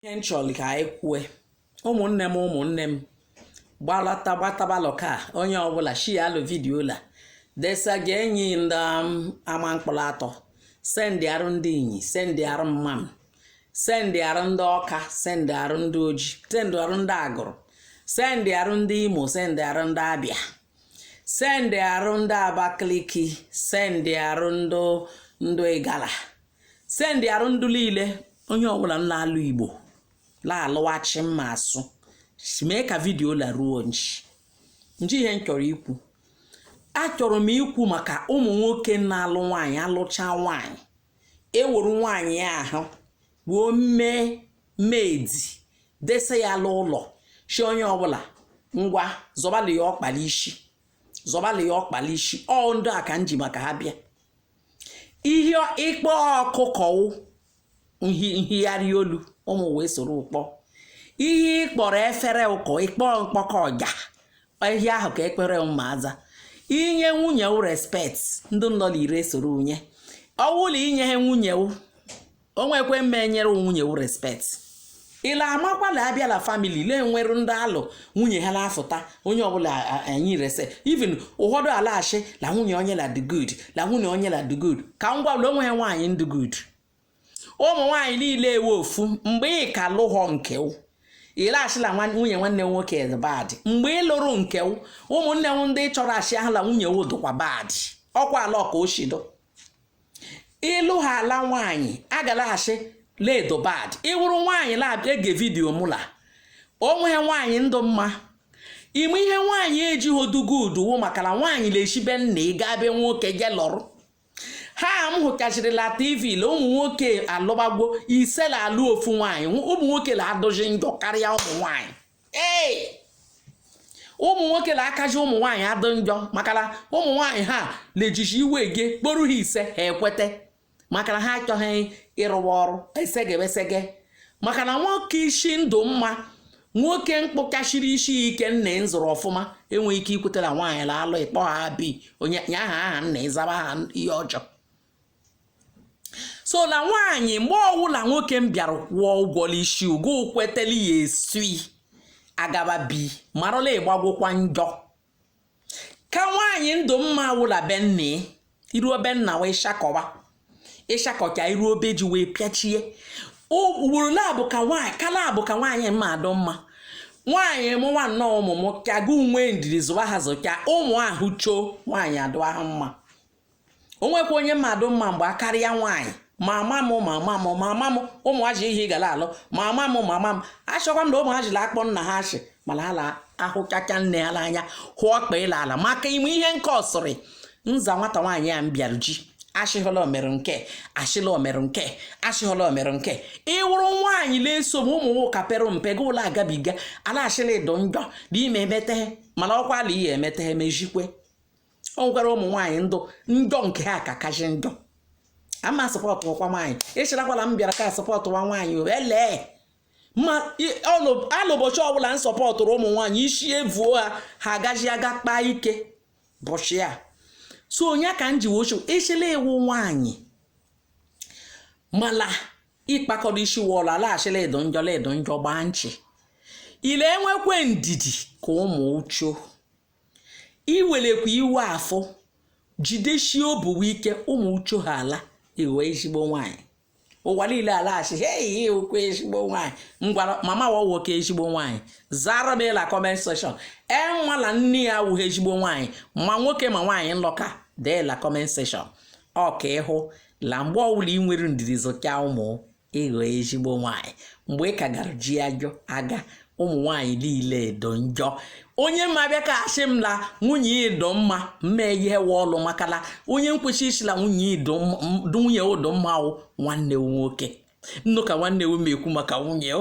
ihe m chọrọ ka anyị kwue ụmụnne m ụmụnne m gbatabalụ ka onye ọbụla shialụ vidiyo la desa ga enyi ndị ama mkpụrụ atọ sendịarụ ndị inyi sendịarụ mmam sendịarụ ndị ọka sendịarụ ndị oji sendịarụ ndị agụrụ sendịarụ ndị imo sendịarụ ndị abịa sendịarụ ndị abakaliki sendịarụ ndị igala sendịarụ ndụ niile onye ọbụla na-alụ igbo na-alụ achi mma asụ mee ka vidio la ruo nji nji ihe m chọrọ ikwu achọrọ m ikwu maka ụmụ nwoke na-alụ nwaanyị alụcha nwaanyị eweru nwaanyị ahụ wuo mee medi dese ya n'ụlọ shi onye ọbụla ngwa zọbalị ya ọkpa la isi ọ ndị a ka m ji maka ha bịa ihe ị kpọ ọkụkọ nhigharị olu ụmụ wee soro ụkpọ ihe ị kpọrọ efere ụkọ ị kpọ mkpọkọ ọja ihe ahụ ka efere ma aza i nye nwunye respect ndị nọ n'ire esoro nye ọ wụ la i nyeha nwunye o nwekwe mma enyere nwunye wu respect i le a makwa la a bịa la family le nwere ndị alụ nwunye ha na-afụta onye ọbụla anyị rese even ụfọdụ alashi na nwunye onye la dụ good na nwunye onye la dụ good ka m gwabụla o nwehe nwaanyị ndụ good ụmụ nwaanyị niile wụ ofu mgbe ị ka lụghọ nke ị la-ashi la nwunye nwanne m nwoke dụ bad mgbe ị lụrụ nke ụmụnne m ndị chọrọ achị ahụ la nwunye wo dụkwa bad ọkwa ala ọka oshido ị lụ ha ala nwaanyị a ga-alashi le dụ bad ị wụrụ nwaanyị na-ege vidiyo mụla o nwehe nwaanyị ndụ mma ime ihe nwaanyị ejighị odugo uduwo maka na nwaanyị na-eshi be nna ị gaa be nwoke je lọrụ ha m hụkachirila tv la ụmụ nwoke alụbagwo ise la-alụ ofu nwaanyị ụmụ nwoke la-adụzi njọ karịa ụmụ nwaanyị ee ụmụ nwoke na-akaji ụmụ nwaanyị adị njọ maka na ụmụ nwaanyị ha na-ejizi iwe gị kporu ha ise ha ekweta maka na ha achọghị ịrụwa ọrụ esege esege maka na nwoke isi ndụ mma nwoke mkpụkachiri isi ike nna ị zụrụ ọfụma enweghị ike ikweta la nwaanyị la-alụ ị kpọ ha bi onye nye aha nna ị zaba aha ihe ọjọọ so na nwaanyị mgbe ọwụla nwoke m bịara kwụọ ụgwọ n'isi ugo kweteli ya esui agaba bi marụ la ịgbagwụkwa njọ ka nwaanyị ndụ mma awụ la be nne i ruo be nna wee shakọwa ị shakọcha i ruo be ji wee pịachie ugboro labụ ka nwaanyị ka labụ ka nwaanyị mma adụ mma nwaanyị mụwa nnọọ ụmụ m ka gị nwe ndidi zụwa ha zụcha ụmụ ahụ choo nwaanyị adụ ahụ mma o nwekwa onye mmadụ mma mgbe a karịa nwaanyị mama m ụmụ ha ji ihe gara alụ mama m achọkwa m na ụmụ ha ji la-akpọ nna ha asị mana ha la-ahụchacha nne ha n'anya hụ ọkpa ịla ala maka ime ihe nke ọ sịrị nza nwata nwaanyị ya m bịara ji achịghọla omere nke achịla omere nke achịghọla omere nke ị wụrụ nwaanyị na-eso m ụmụ nwoke pere mpe gị ụlọ agabiga a la-asị la ị dụ njọ n'ime emete mana ọkwa ala ihe emete mejikwe o nwekwara ụmụ nwaanyị dụ njọ nke ha ka kachi njọ ama sọpọtụ ọkwa nwaanyị ị sịrịkwa la m bịara ka sọpọtụ nwa nwaanyị ele mala ụbọchị ọbụla m sọpọtụrụ ụmụ nwaanyị isi evuo ha ha agaghị aga kpaa ike bọchị a so onye ka m ji wochu ị sị la ị wụ nwaanyị mala ịkpakọrọ isi wọlụ a la-asị la ị dụ njọ la ị dụ njọ gbaa nchị ile enwekwe ndidi ka ụmụ uchu iwelekwa iwe afọ jideshie obuwe ike ụmụ uchu ha ala ị ghọ ezigbo nwaanyị ụwa niile a la-asị hei ihe okwu ezigbo nwaanyị ngwara mama wa nwoke ezigbo nwaanyị zara m la comment section enwala nne ya awụghị ezigbo nwaanyị ma nwoke ma nwaanyị nlọka dee la comment section ọ kwa ị hụ la mgbe ọwụla ị nwere ndidi zụcha ụmụ ị ghọ ezigbo nwaanyị mgbe ị ka gara ji ajọ aga ụmụ nwaanyị niile dụ njọ onye ma bịa ka asị m la nwunye ya dụ mma mma ihe we ọlụ maka la onye nkwesị ịsị la nwunye ya dụ nwunye ya dụ mma wụ nwanne nwoke nnụ ka nwanne m ekwu maka nwunye